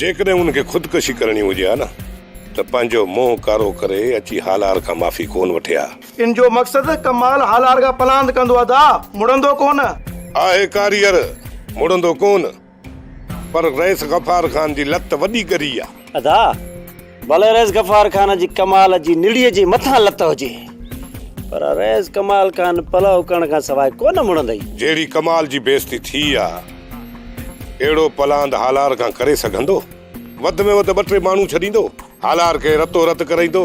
جيڪڏهن هن کي خودڪشي ڪرڻي هجي ها نه ته پنهنجو منهن ڪارو ڪري اچي هالار کان معافي ڪونه وٺي ها. ان جو مقصد ڪمال هالار کان پلاند ڪندو ادا مڙندو ڪونه. آهي ڪاريئر مڙندو ڪونه. پر رئيس غفار خان جي لت وڏي ڳري آ. ادا. ڀلي رئيس غفار خان جي ڪمال جي نڙيء جي مٿان لت هجي پر رئيس ڪمال خان پلئو ڪرڻ کان سواء ڪونه مڙندئي. جهڙي ڪمال جي بيعزتي ٿي آ، اهڙو پلاند هالار کان ڪري سگهندو؟ وڌ ۾ وڌ ٻه ٽي ماڻهو ڇڏيندو. هالار کي رتو رت ڪرائيندو.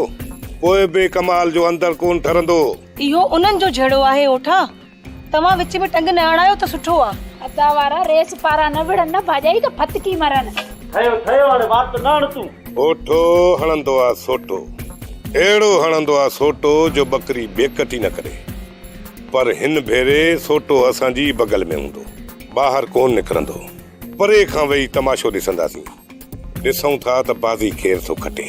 پوء به ڪمال جو اندر ڪونه ٺرندو هو. اهو انهن جو جهيڙو آهي اوٺا. توهان وچ ۾ ٽنگ نه اڻايو ته سٺو آ. ادا وارا ريس پارا نه وڙهن نه ڀاڄائي ته ڦٿڪي مرن. ٺهيو ٺهيو هاڻي وات نه هڻ تون. اوٺو هڻندو آ سوٽو. اهڙو هڻندو آ سوٽو جو ٻڪري بيڪٽ ئي نه ڪري. پر هن ڀيري سوٽو اسان جي ئي بغل ۾ هوندو. ٻاهر ڪونه نڪرندو. پري کان ويهي تماشو ڏسنداسين. ڏسون ٿا ته بازي ڪير ٿو کٽي.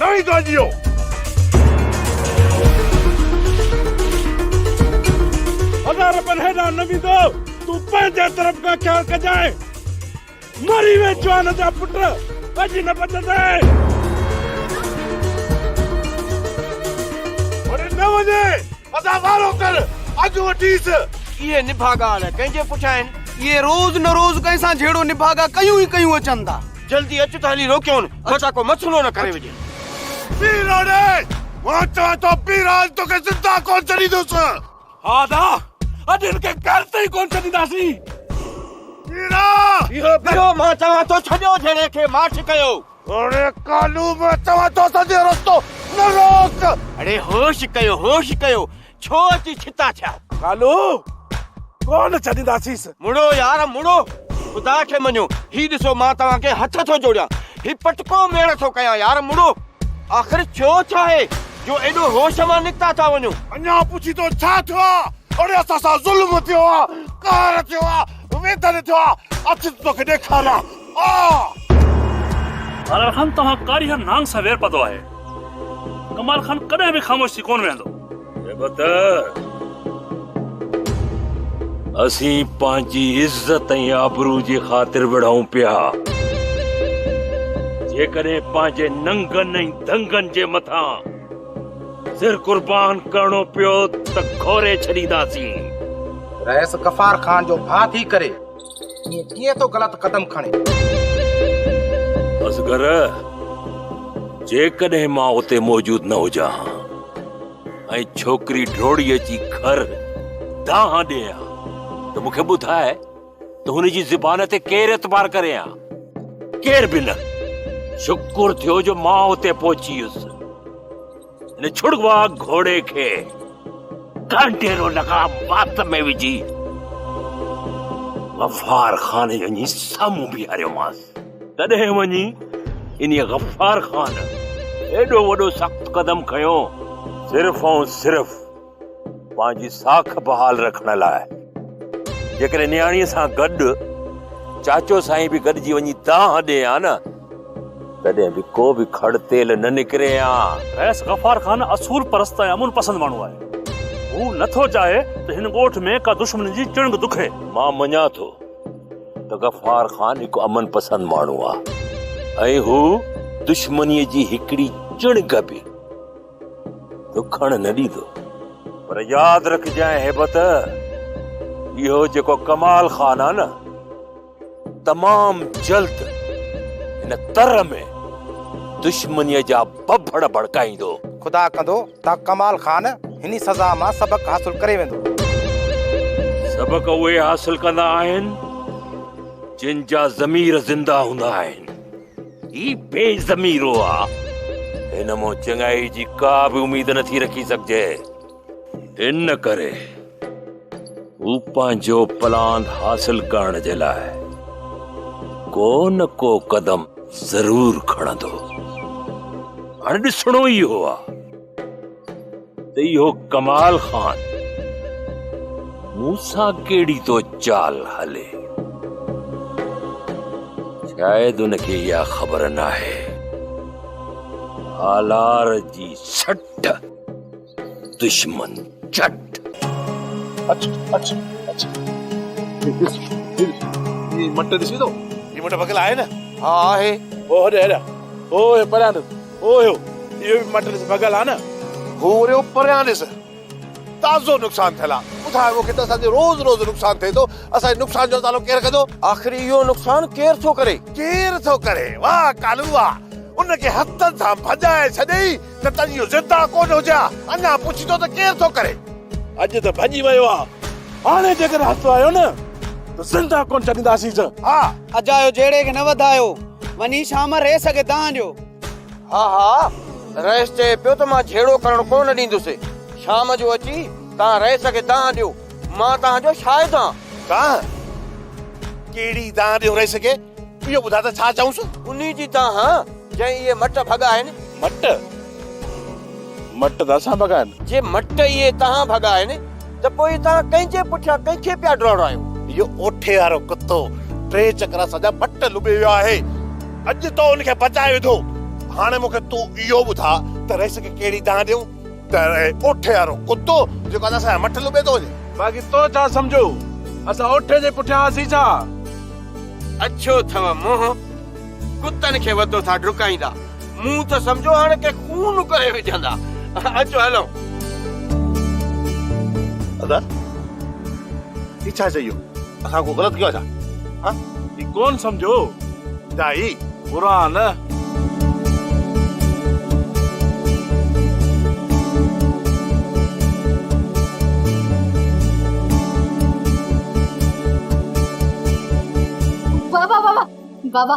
نوي گانجيو. هزار رپين هيڏانهن نه ويندو. تون پنهنجي طرف کان خيال ڪجانء. مري ويھ جوان جا پٽ، اڄ نه بچندين. هاڻي نه وڃي، ادا وارو ڪر، اڄ وٺيس. اهي نڀاڳا نه ڪنهن جي پٺيان آهن. اهي روز نه روز ڪنهن سان جهيڙو نڀاڳا ڪيون ئي ڪيون اچن ٿا. جلدي اچ ته هلي روڪيون مٿان ڪو مٿونو نه ڪري وڃي. پيراڻي! مان چوان ٿو پيراڻ توکي زنده ڪونه ڇڏيندس. ها نا، اڄ هن کي گهر تائين ڪونه ڇڏينداسين. پيراڻ! پيراڻ! مان چوان ٿو ڇڏيو جهيڙي کي ماٺ ڪيو. اڙي ڪالو مان چوان ٿو سڄو رستو نه روڪ. اڙي هوش ڪيو هوش ڪيو. ڇو اچي ڇتا ٿيا. ڪالو ڪونه ڇڏينداسينس. مڙو يار مڙو خدا کي مڃو هي ڏسو مان توهان کي هٿ ٿو جوڙيان هي پٽڪو ميڙ ٿو ڪيان يار مڙو آخر ٿيو ڇا هي جو ايڏو هوش مان نڪتا ٿا وڃو. اڃا پڇي ٿو ڇا ٿيو آ اڙي اسان سان ظلم ٿيو آ قهر ٿيو آ ويڌن ٿيو آ اچ ته توکي ڏيکاريان. آلڙ خان توهان ڪاري هر نانگ سان وير پتو آهي. ڪمال خان ڪڏهن به خاموش ٿي ڪونه ويهندو. اي بتر! اسين پنهنجي عزت ۽ آبرو جي خاطر وڙهون پيا. جيڪڏهن پنهنجي ننگن ۽ دنگن جي مٿان سر قربان ڪرڻو پيو ته گهوري ڇڏينداسين. رئيس غفار خان جو ڀاء ٿي ڪري ائين ڪيئن ٿو غلط قدم کڻي. اصغر جيڪڏهن مان اتي موجود نه هجان ها ۽ ڇوڪري ڊوڙي اچي گهر دانهن ڏئي ها ته مون کي ٻڌاء ته هن جي زبان تي ڪير اعتبار ڪري ها. ڪير به نه. شڪر ٿيو جو مان اتي پهچي ويس. هن ڇڙوا گهوڙي کي ڪانٽيرو لڳا وات ۾ وجهي غفار خان وڃي سامهون بيهاريومانس تڏهن وڃي ان غفار خان ايڏو وڏو سخت قدم کنيو صرف ۽ صرف پنهنجي ساک بحال رکڻ لاء جيڪڏهن نياڻيء سان گڏ چاچو سائين به گڏجي وڃي دانهن ڏئي ها نه تڏهن به ڪو به کڙ تيل نه نڪري ها. رئيس غفار خان اصول پرست ۽ امن پسند ماڻهو آهي. هو نه ٿو چاهي ته هن ڳوٺ ۾ ڪا دشمن جي چڻگ دکي. مان مڃان ٿو ته غفار خان هڪ امن پسند ماڻهو آهي ۽ هو دشمنيء جي هڪڙي چڻگ به. ڏکڻ نه ڏيندو. پر ياد رکجانء هيبت، اهو جيڪو ڪمال خان آ نه، تمام جلد هن تر ۾ دشمنيء جا ڀڀڙ ڀڙڪائيندو. خدا ڪندو ته ڪمال خان هني سزا مان سبق حاصل ڪري ويندو. سبق اهي حاصل ڪندا آهن، جن جا ضمير زنده هوندا آهن. هي بي ضميرو آ. هن مان چڱائي جي ڪا به اميد نٿي رکي سگهجي. ان ڪري هو پنهنجو پلان حاصل ڪرڻ جي لاء ڪو نه ڪو قدم ضرور کڻندو. هاڻي ڏسڻو ئي اهو آ. ته اهو ڪمال خان مون سان ڪهڙي ٿو چال هلي شايد ان کي اها خبر ناهي آلار جي سٽ دشمن چٽ مٽ ڏسي ٿو هي مٽ ڀڳل آهي نه ها آهي هو هڏ هيڏانهن هو هي پريان او هو! اهو به مٽ ڏس ڀڳل آ نه! هو وريو پريان ڏس تازو نقصان ٿيل آ. ٻڌاء مون کي ته اسان جو روز روز نقصان ٿئي ٿو، اسان جي نقصان جو ازالو ڪير ڪندو؟ آخر اهو نقصان ڪير ٿو ڪري؟ ڪير ٿو ڪري؟ واه ڪالو واه! ان کي هٿن سان ڀڄائي ڇڏيئي ته تنهنجي اهو ضد آ ڪونه هجي ها، اڃا پڇين ٿو ته ڪير ٿو ڪري؟ اڄ ته ڀڄي ويو آ، هاڻي جيڪڏهن هٿ آيو نه ته زنده ڪونه ڇڏينداسينس. ها! اجايو جهيڙي کي نه وڌايو. وڃي شام ريس کي دانهن ڏيو. ها ها رئيس چئي پيو ته مان جهيڙو ڪرڻ ڪو نه ڏيندس. شام جو اچي توهان رئيس کي دانهن ڏيو. مان توهان جو شاهد آهان. دانهن؟ ڪهڙي دانهن ڏيون رئيس کي؟ اهو ٻڌاء ته ڇا چئونس؟ انهي جي دانهن جنهن اهي مٽ ڀڳائن. مٽ؟ مٽ ته اسان ڀڳائن. جي مٽ اهي توهان ڀڳائن. ته پوء توهان ڪنهن جي پٺيان ڪنهن کي پيا ڊوڙايو؟ اهو اوٺي وارو ڪتو ٽي چڪر اسان جا ڀٽ لٻي ويو آهي. اڄ تو ان کي بچائي وڌو. هاڻي مون کي تون اهو ٻڌاء ته رئيس کي ڪهڙي دانهن ڏيون؟ ته رهي اوٺي وارو ڪتو جيڪو ادا اسان جا مٺ لٻي ٿو وڃي. باقي تو ڇا سمجهو اسان اوٺي جي پٺيان هئاسين ڇا؟ اڇو اٿئو منهن، ڪتن کي وڌو ٿا ڊڪائيندا. مون ته سمجهيو هاڻ ڪي خون ڪري وجهندا. اچو هلون. ادا هي ڇا چئي اهو اسان ڪو غلط ڪيو آهي ڇا ها هي ڪون سمجهو دائي برا نه. بابا بابا بابا.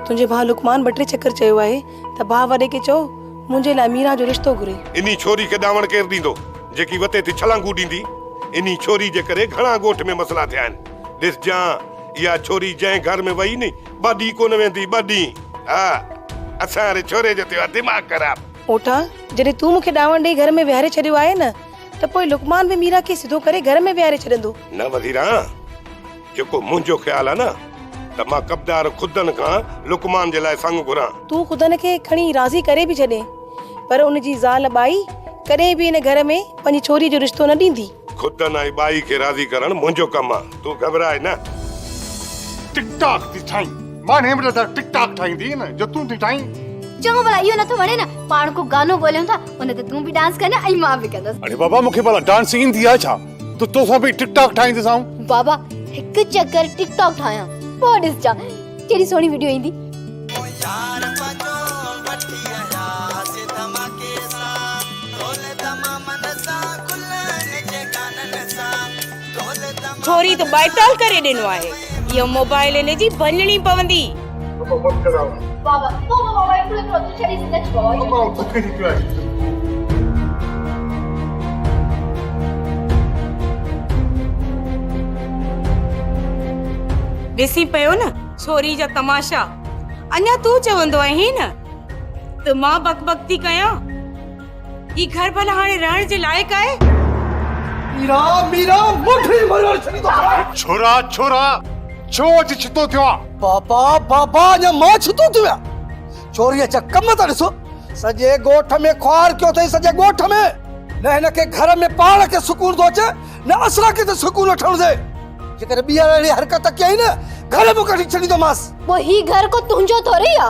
تنهنجي ڀاء لقمان ٻه ٽي چڪر چيو آهي ته ڀاء وڏي کي چئو منهنجي لاء ميرا جو رشتو گهري. انهي ڇوري کي ڏانوڻ ڪير ڏيندو جيڪي وتي ٿي ڇلانگون ڏيندي. انهي ڇوري جي ڪري گهڻا ڳوٺ ۾ مسئلا ٿيا آهن. ڏسجان اها ڇوري جنهن گهر ۾ وئي ني ٻه ڏينهن ڪونه ويندي ٻه ڏينهن. ها اسان واري ڇوري جو ٿيو آهي دماغ خراب. اوٺان جڏهن تون مون کي ڏانوڻ ڏئي گهر ۾ ويهاري ڇڏيو آهي نه ته پوء لقمان به ميرا کي سڌو ڪري گهر ۾ ويهاري ڇڏندو. نه وزيران! جيڪو منهنجو خيال آهي نه ته مان ڪبدار خدن کان لقمان جي لاء سڱ گهران. تون خدن کي کڻي راضي ڪري به ڇڏين پر ان جي زال ٻائي ڪڏهن به ان گهر ۾ پنهنجي ڇوري جو رشتو نه ڏيندي. خدن ۽ ٻائي کي راضي ڪرڻ منهنجو ڪم آهي، تون گهٻرائي نه. ٽڪ ٽاڪ ٿي ٺاهين. مان هن وٽ ٽڪ ٽاڪ ٺاهيندينء نه جو تون ٿي ٺاهين. چڱو ڀلا اهو نٿو وڻي نه پاڻ ڪو گانو ڳوليون ٿا ان تي تون به ڊانس ڪرجانء ۽ مان به ڪندس. اڙي بابا مون کي ڀلا ڊانس ايندي آهي ڇا؟ ته توسان به ٽڪ ٽاڪ ٺاهيندس آئون. بابا هڪ چڪر ٽڪ ٽاڪ ٺاهيان پوء ڏسجان ڪهڙي سهڻي وڊيو ايندي. ٿوري ته ٻائٽال ڪري ڏنو آهي اهو موبائل ان جي ڀڃڻي پوندي. ڏسين پيو نه ڇوري جا تماشا اڃا تون چوندو آهين ته مان بڪ بڪ ٿي ڪيان. هي گهر ڀلا هاڻي رهڻ جي لائق آهي؟ ميرا ميرا مٺي مرڻ ڇڏي ٿو ڪران. ڇورا ڇورا ڇو اچي ڇتو ٿيو آن. بابا بابا اڃا مان ڇتو ٿيو آهيان ڇوريء جا ڪم ته ڏسو سڄي ڳوٺ ۾ خوار ڪيو اٿئي سڄي ڳوٺ ۾ نه هن کي گهر ۾ پاڻ کي سڪون ٿو اچي نه اسان کي ته سڪون وٺڻ ڏي جيڪڏهن ٻيهر اهڙي حرڪت ڪيائين نه گهر مان ڪڍي ڇڏيندومانس. پوء هي گهر ڪو تنهنجو ٿوري آ.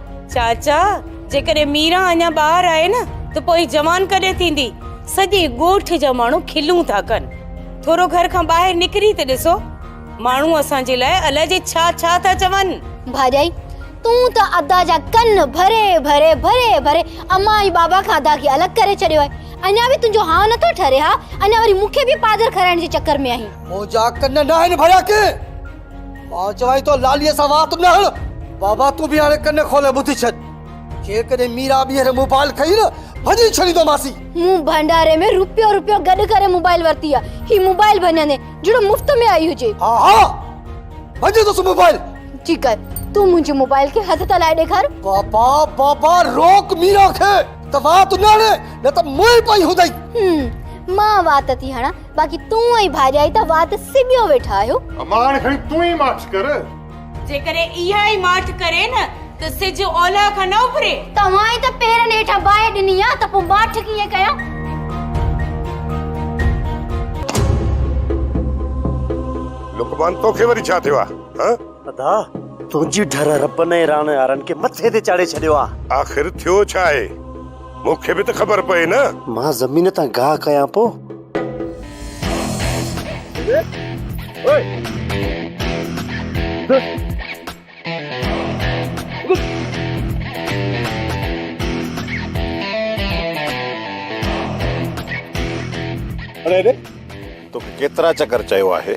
چاچا جيڪڏهن ميران اڃا ٻاهر آهي نه ته پوء جوان ڪڏهن ٿيندي سڄي ڳوٺ جا ماڻهو کلون ٿا ڪن ٿورو گهر کان ٻاهر نڪري ته ڏسو ماڻهو اسان جي لاء الاء جي ڇا ڇا ٿا چون ڀاڄائي تون ته ادا جا ڪن ڀري ڀري ڀري ڀري امان ۽ بابا کان ادا کي الڳ ڪري ڇڏيو آهي اڃا به تنهنجو هانء نٿو ٺري ها اڃا وري مون کي به پادر کارائڻ جي چڪر ۾ آهين منهنجا ڪن ناهن ڀريا ڪنهن مان چوانء ٿو لاليء سان وات نه هڻ. بابا تون به هاڻي ڪن کولي ٻڌي ڇڏ. جيڪڏهن ميرا ٻيهر موبائل کنئي نه، ڀڃي ڇڏيندومانسين. مون ڀنڊاري ۾ روپيو روپيو گڏ ڪري موبائل ورتي آ. هي موبائل ڀڃندين جهڙو مفت ۾ آئي هجي. ها ها ڀڃيندوس موبائل. جي ڪر تون منهنجي موبائل کي هٿ ته لائي ڏيکار. بابا بابا روڪ ميرا کي ته وات نه هڻي نه ته مئي پئي هوندئي. هوم مان وات ٿي هڻان. باقي تون ۽ ڀاڄائي ته وات سٻيو ويٺا آهيو. اما هاڻي کڻي تون ئي ماٺ ڪر. جيڪڏهن اها ئي ماٺ ڪري نه ته سج اولهه کان نه اڀري. توهان ئي ته پيرن هيٺان باهه ڏني آهي ته پوء ماٺ ڪيئن ڪيان. لقمان توکي وري ڇا ٿيو آهي؟ ادا تنهنجي ڍر ربن ۽ راڻ هارن کي مٿي تي چاڙهي ڇڏيو آ. آخر ٿيو ڇا آهي؟ مون کي به ته خبر پئي نه. مان زمين تان گاهه ڪيان پو. اڙي اڙي توکي ڪيترا چڪر چيو آهي.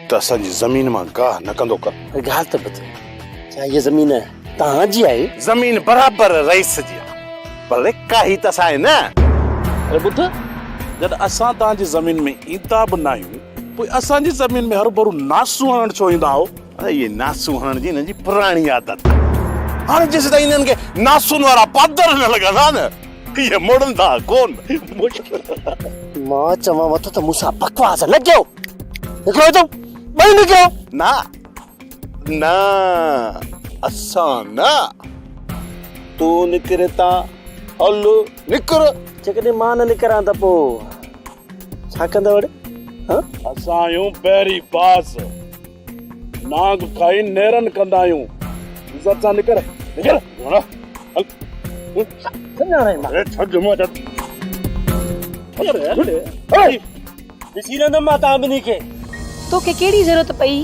ته اسان جي زمين مان گاهه نه ڪندو ڪر. ڳالهه ته ٻڌ، ڇا هيء زمين توهان جي آهي؟ زمين برابر رئيس جي آهي، پر لکه هي ته اسان جي نه. اري ٻڌ، جڏهن اسان توهان جي زمين ۾ ايندا به ناهيون، پوء اسان جي زمين ۾ هرڀرو ناسون هڻڻ ڇو ايندا آهيو؟ هيء ناسون هڻڻ جي هنن جي پراڻي عادت آهي. هاڻي جيسيتائين هنن کي ناسون وارا پادر نه لڳندا نه، هيء مڙندا ڪونه. مان چوانوٿو ته مون سان بڪواس نه ڪيو. هڪڙو ته ٻئي نڪريو. نه نه اسان نه تون نڪر ته هل نڪر. جيڪڏهن مان نه نڪران ته پوء ڇا ڪندء وڙي؟ اسان آهيون بحري باز. نانگ کائي نيرن ڪندا آهيون عزت سان نڪر نڪر گهوڙا هل سڃاڻي مان اي ڇڏ جمعا ڇڏ هل هل هل ڏسي رهندم مان تان ٻنهي کي توکي ڪهڙي ضرورت پئي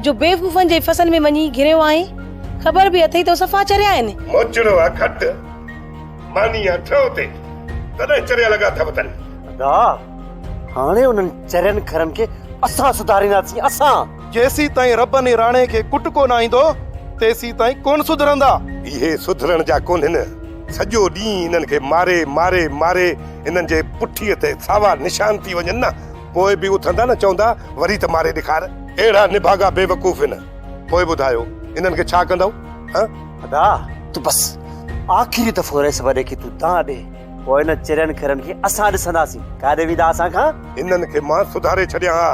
جو بيوقوفن جي فسن ۾ وڃي گهريو آهين خبر به اٿئي تو صفا چريا آهن. موچڙو آ کٽ ماني آ ٺهو تي تڏهن چريا لڳا اٿئو تن. ادا هاڻي انهن چرين کرن کي اسان سڌارينداسين، اسان! جيسين تائين ربن ۽ راڻي کي ڪٽڪو نه آئيندو، تيسين تائين ڪونه سڌرندا. اهي سڌرڻ جا ڪونهن. سڄو ڏينهن انهن کي ماري، ماري، ماري انهن جي پٺيء تي ساوا نشان ٿي وڃن نه، پوء به اٿندا نه چوندا، وري ته ماري ڏيکار. اهڙا نڀاڳا بيوقوف هن. پوء ٻڌايو، انهن کي ڇا ڪندؤ؟ هه! ادا! ته بس آخري دفعو رهيس، وڏي کي تون دانهن ڏي. پوء انهن چرين کرن کي اسان ڏسنداسين، ڪاڏي ويندا اسان کان؟ هنن کي مان سڌاري ڇڏيان ها،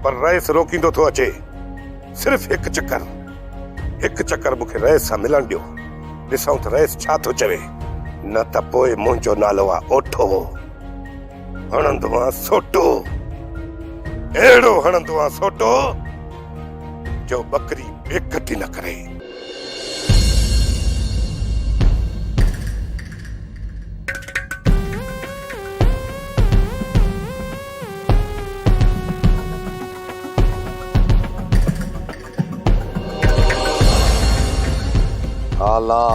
پر رئيس روڪيندو ٿو اچي. صرف هڪ چڪر، هڪ چڪر مون کي رئيس سان ملڻ ڏيو، ڏسون ته رئيس ڇا ٿو چوي، نه ته پوء منهنجو نالو آ اوٺو، هڻندوانس سوٽو، اهڙو هڻندوانس سوٽو، جو ٻڪري بيڪٽي نه ڪري. ها لا،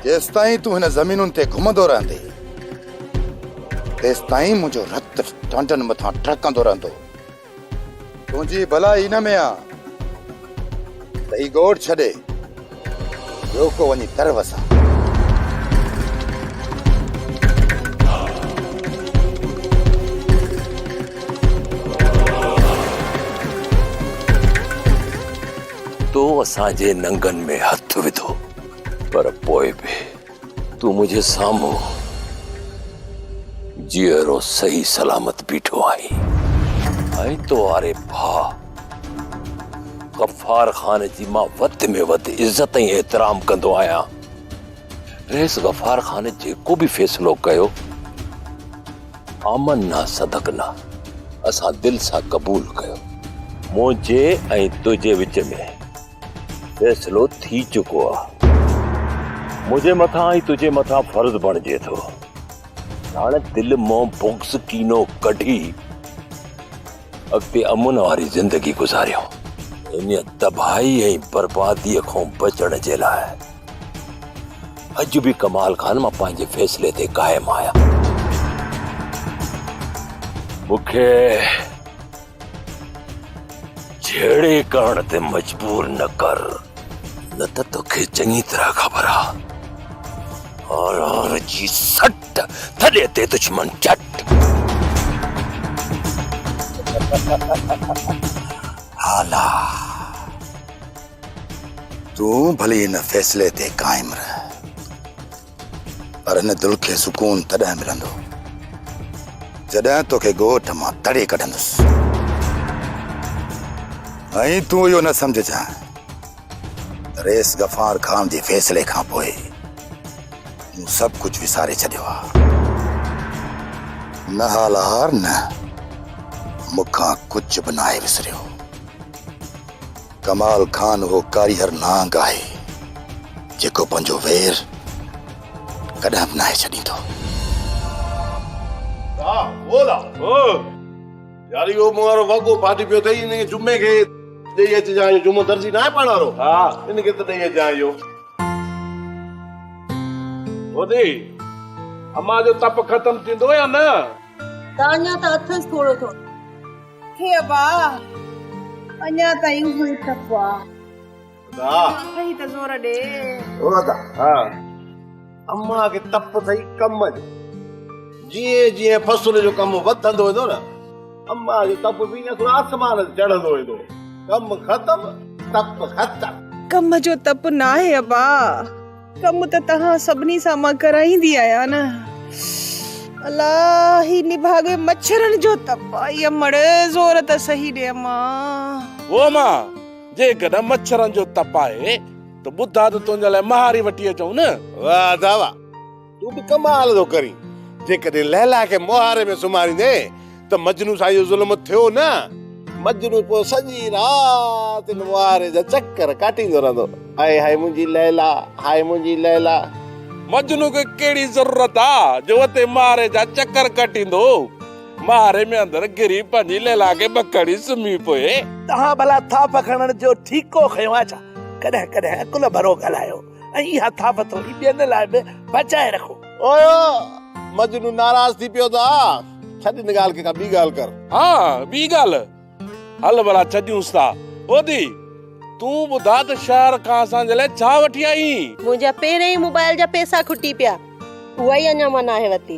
جيستائين تون هن زمينن تي گهمندو رهندي، تيستائين منهنجو رت ٽانڊن مٿان ٽهڪندو رهندو. تنهنجي ڀلائي ان ۾ آ ته هي ڳوٺ ڇڏي ٻيو ڪو وڃي تر وسان. تو اسان جي ننگن ۾ هٿ وڌو پر پوء به تون منهنجي سامهون جيئرو صحيح سلامت بيٺو آهين ۽ تو واري ڀاء غفار خان جي مان وڌ ۾ وڌ عزت ۽ احترام ڪندو آهيان رئيس غفار خان جيڪو به فيصلو ڪيو آمن نه صدق نه اسان دل سان قبول ڪيو منهنجي ۽ تنهنجي وچ ۾ فيصلو ٿي چڪو آ. منهنجي مٿان ۽ تنهنجي مٿان فرض بڻجي ٿو ته هاڻي دل مان بغض ڪينو ڪڍي اڳتي امن واري زندگي گذاريون. ان تباهي ۽ بربادي کان بچڻ جي لاء اڄ به ڪمال خان مان پنهنجي فيصلي تي قائم آهيان. مون کي جهيڙي ڪرڻ تي مجبور نه ڪر نه ته توکي چڱي طرح خبر آ آر آر جي سٽ ٿڏي تي دشمن چٽ هالا تون ڀلي هن فيصلي تي قائم رهه پر هن دل کي سڪون تڏهن ملندو جڏهن توکي ڳوٺ مان تڙي ڪڍندس ۽ تون اهو نه سمجهجان ريس غفار خان جي فيصلي کان پوء مون سڀ ڪجهه وساري ڇڏيو آهي نه هالار نه مون کان ڪجهه به ناهي وسريو ڪمال خان اهو ڪاريهر نانگ آهي، جيڪو پنهنجو وير ڪڏهن به ناهي ڇڏيندو. ها هو لا هو يار اهو مون وارو وڳو ڦاٽي پيو اٿئي ان کي جمعي کي ڏئي اچجانء اهو جمعو درزي ناهي پاڻ وارو ها ان کي ته ڏئي اچجانء اهو. هودي امان جو تپ ختم ٿيندو يا نه؟ تانيا ته اٿس ٿورو ٿورو. هي ابا اڃا تائين اهو ئي ٽپ آ. ادا. اٿئي ته زور ڏي. او ادا. ها. امان کي تپ اٿئي ڪم جو. جيئن جيئن فصل جو ڪم وڌندو ويندو نه امان جو تپ به ايئن ٿورو آسمان تي چڙهندو ويندو. ڪم ختم تپ ختم. ڪم جو تپ ناهي ابا. ڪم ته توهان سڀني سان مان ڪرائيندي آهيان نه. الا هي نڀاڳي مڇرن جو تپ آهي امڙ زور ته سهي ڏي امان. هو امان جيڪڏهن مڇرن جو تپ آهي ته ٻڌاء ته تنهنجي لاء مهاري وٺي اچون نه. واهه ادا واهه تون به ڪمال ٿو ڪرين جيڪڏهن ليلا کي مهاري ۾ سمهاريندين ته مجنون سان اهو ظلم ٿيو نه. مجنون پوء سڄي رات ان مواهري جا چڪر ڪاٽيندو رهندو، هاء هاء منهنجي ليلا، هاء منهنجي ليلا. مجنون کي ڪهڙي ضرورت آ جو اتي مواهري جا چڪر ڪاٽيندو، مواهري ۾ اندر گهري پنهنجي ليلا کي ٻڪڻي سمهي پوي. توهان ڀلا ٿاڦ کڻڻ جو ٺيڪو کنيو آ ڇا؟ ڪڏهن ڪڏهن عقل ڀرو ڳالهايو. ۽ اها ٿاڦ ٿوري ٻين لاء به بچائي رکو. او مجنون ناراض ٿي پيو ته آء. ڇڏ ان ڳالهه کي ڪا ٻي ڳالهه ڪر. ها ٻي ڳالهه. هل ڀلا ڇڏيونس ٿا. اوڌي تون ٻڌاء ته شهر کان اسان جي لاء ڇا وٺي آئين؟ منهنجا پهريائين موبائل جا پئسا کٽي پيا. اها ئي اڃا مان ناهي ورتي.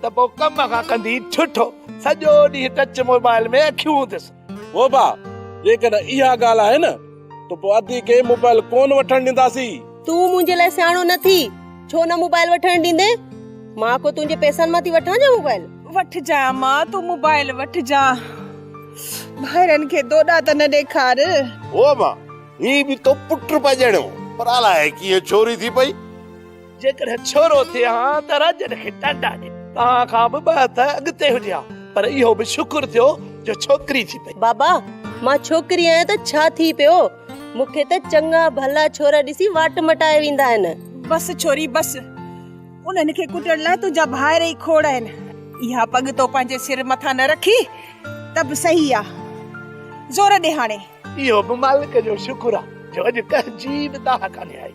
ته پوء ڪم کان ڪندي ٺٺو سڄو ڏينهن ٽچ موبائل ۾ اکيون هونديس. ووبا، جيڪڏهن اها ڳالهه آهي نه ته پوء ادي کي موبائل ڪونه وٺڻ ڏينداسين. تون منهنجي لاء سياڻو نه ٿي، ڇو نه موبائل وٺڻ ڏيندين؟ مان ڪو تنهنجي پئسن مان ٿي وٺان ڇا موبائل؟ وٺجانء ماء تون موبائل وٺجانء. ڀائرن کي دوڏا ته نه ڏيکار. ووبا، هي به تو پٽ پڄڻيو پر الاهي ڪيئن ڇوري ٿي پئي. جيڪڏهن ڇورو ٿئي ها ته راڄن کي ٽانڊا ڏي. توهان کان به ٻه هٿ اڳتي هجي ها پر اهو به شڪر ٿيو جو ڇوڪري ٿي پئي. بابا مان ڇوڪري آهيان ته ڇا ٿي پيو. مون کي ته چڱا ڀلا ڇورا ڏسي واٽ مٽائي ويندا آهن. بس ڇوري بس. انهن کي ڪٽڻ لاء تنهنجا ڀائر ئي کوڙ آهن. اها پڳ تو پنهنجي سر مٿان نه رکي ته به صحيح آ. زور ڏي هاڻي. اهو به مالڪ جو شڪر آ جو اڄ ڪنهن جي به دانهن ڪانهي آئي.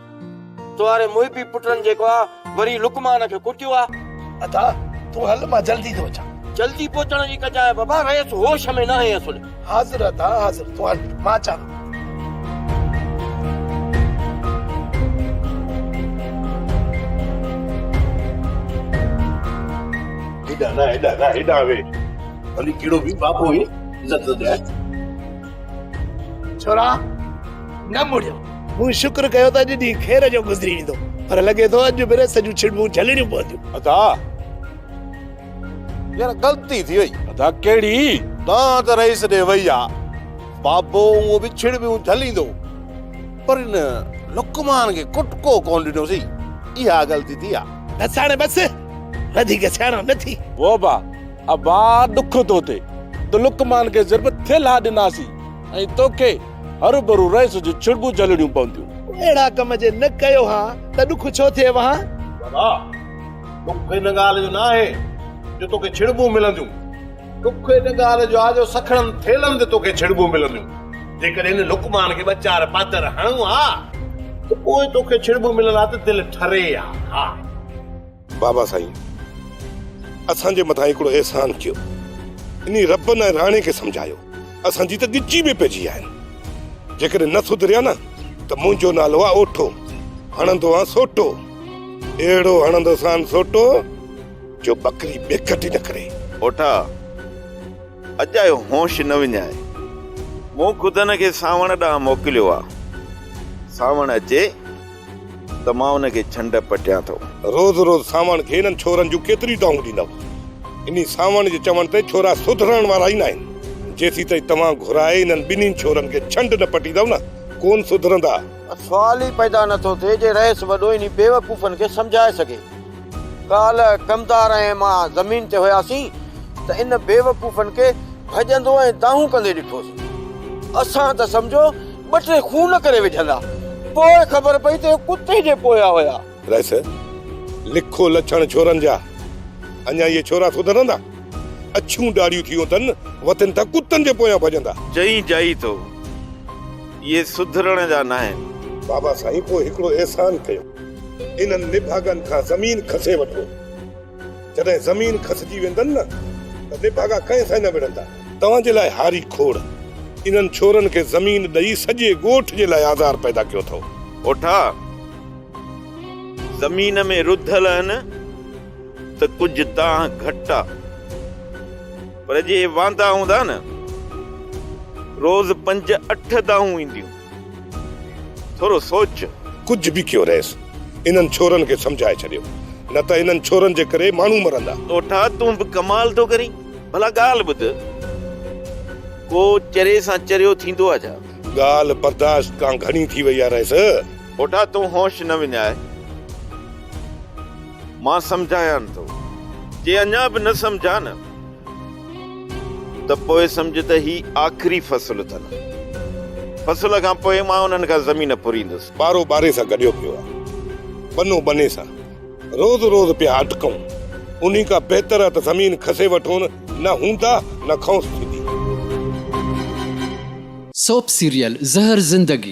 تو واري محبي پٽن جيڪو آ وري لقمان کي ڪٽيو آ. ادا تون هل مان جلدي ٿو اچان. جلدي پهچڻ جي ڪجانء بابا رئيس هوش ۾ ناهي اصل. حاضر ادا حاضر تون هل مان اچان ٿو. هيڏانهن نه هيڏانهن نه هيڏانهن ويهه ڀلي ڪهڙو به بابو هئي عزت ڏيانء. ڇورا نه مڙيو. مون شڪر ڪيو ته اڄ ڏينهن خير جو گذري ويندو پر لڳي ٿو اڄ به ريس جون ڇڙٻون جهلڻيون پونديون. ادا يار غلطي ٿي وئي. ادا ڪهڙي؟ ڪانه ته ريس ڏي وئي آ. بابو هونء به ڇڙٻيون جهليندو پر ان لقمان کي ڪٽڪو ڪونه ڏنو سي اها غلطي ٿي آ. بس هاڻي بس وڌيڪ سياڻو نه ٿي. ووبا ابا ڏک ٿو ٿئي ته لقمان کي ضرب ٿي لاهه ڏناسين ۽ توکي هروڀرو رئيس جون ڇڙٻون جهلڻيون پونديون. اهڙا ڪم جي نه ڪيو ها ته ڏک ڇو ٿئي ها؟ ابا ڏک ان ڳالهه جو نه آهي جو توکي ڇڙٻون ملنديون. ڏک ان ڳالهه جو آهي جو سکڻن ٿيلهن تي توکي ڇڙٻون ملنديون. جيڪڏهن هن لقمان کي ٻه چار پاتر هڻون ها ته پوء توکي ڇڙٻون ملڻ لاء ته دل ٺري ها. بابا سائين اسان جي مٿان هڪڙو احسان ڪيو انهي ربن ۽ راڻي کي سمجهايو اسان جي ته ڳچي ۾ پئجي ويا آهن جيڪڏهن نه سڌريا نه ته منهنجو نالو آ اوٺو هڻندو آ سوٽو اهڙو هڻندو سان سوٽو جو بڪري بيکٽ نه ڪري اوٺا اڄ آيو هوش نه وڃائي مون خود هن کي سانوڻ ڏانهن موڪليو آ سانوڻ اچي ته مان ان کي ڇنڊ پٽيان ٿو. روز روز سانوڻ کي انهن ڇورن جون ڪيتريون دانهون ڏيندؤ؟ انهي سانوڻ جي چوڻ تي ڇورا سڌرڻ وارا ئي ناهن. جيسيتائين توهان گهرائي انهن ٻنهين ڇورن کي ڇنڊ نه پٽيندؤ نه ڪون سڌرندا. سوال ئي پيدا نه ٿو ٿئي جي رئيس وڏو انهي بيوقوفن کي سمجهائي سگهي. ڪالهه ڪمدار ۽ مان زمين تي هياسين ته ان بيوقوفن کي ڀڄندو ۽ دانهون ڪندي ڏٺوسين. اسان ته سمجهو ٻه ٽي خون ڪري وجهندا. پوء خبر پئي ته اهي ڪتي جي پويا هيا. رئيس، لکو لڇڻ ڇورن جا. اڃا اهي ڇورا سڌرندا؟ اڇيون ڏاڙهيون ٿيون اٿن، وتن ٿا ڪتن جي پويان ڀڄندا. جئين جائي ٿو، اهي سڌرڻ جا ناهن. بابا سائين پوء هڪڙو احسان ڪيو، انهن نڀاڳن کان زمين کسي وٺو. جڏهن زمين کسجي ويندن نه ته نڀاڳا ڪنهن سان نه وڙهندا. توهان جي لاء هاري کوڙ انهن ڇورن کي زمين ڏئي سڄي ڳوٺ جي لاء آزار پيدا ڪيو اٿئو. اوٺا زمين ۾ رڌل اهن ته ڪجهه دانهن گهٽ آ پر جي واندا هوندا نه روز پنج اٺ دانهون اينديون. ٿورو سوچ. ڪجهه به ڪيو رئيس انهن ڇورن کي سمجهائي ڇڏيو نه ته انهن ڇورن جي ڪري ماڻهو مرندا. ڏوٺا تون به ڪمال ٿو ڪرين ڀلا ڳالهه ٻڌ ڪو چري سان چريو ٿيندو آ ڇا. ڳالهه برداشت کان گهڻي ٿي وئي آ رئيس. ڏوٺا تون هوش نه وڃاء مان سمجهايان ٿو جي اڃا به نه سمجهيا نه. ته پوء سمجهه ته هي آخري فصل اٿن. فصل کان پوء مان انهن کان زمين ڦريندس. ٻارو ٻاري سان گڏيو پيو آ، ٻنو ٻني سان، روز روز پيا اٽڪون، انهي کان بهتر آ ته زمين کسي وٺون، نه هوندا نه کئونس ٿيندي. سوپ سيريل زهر زندگي.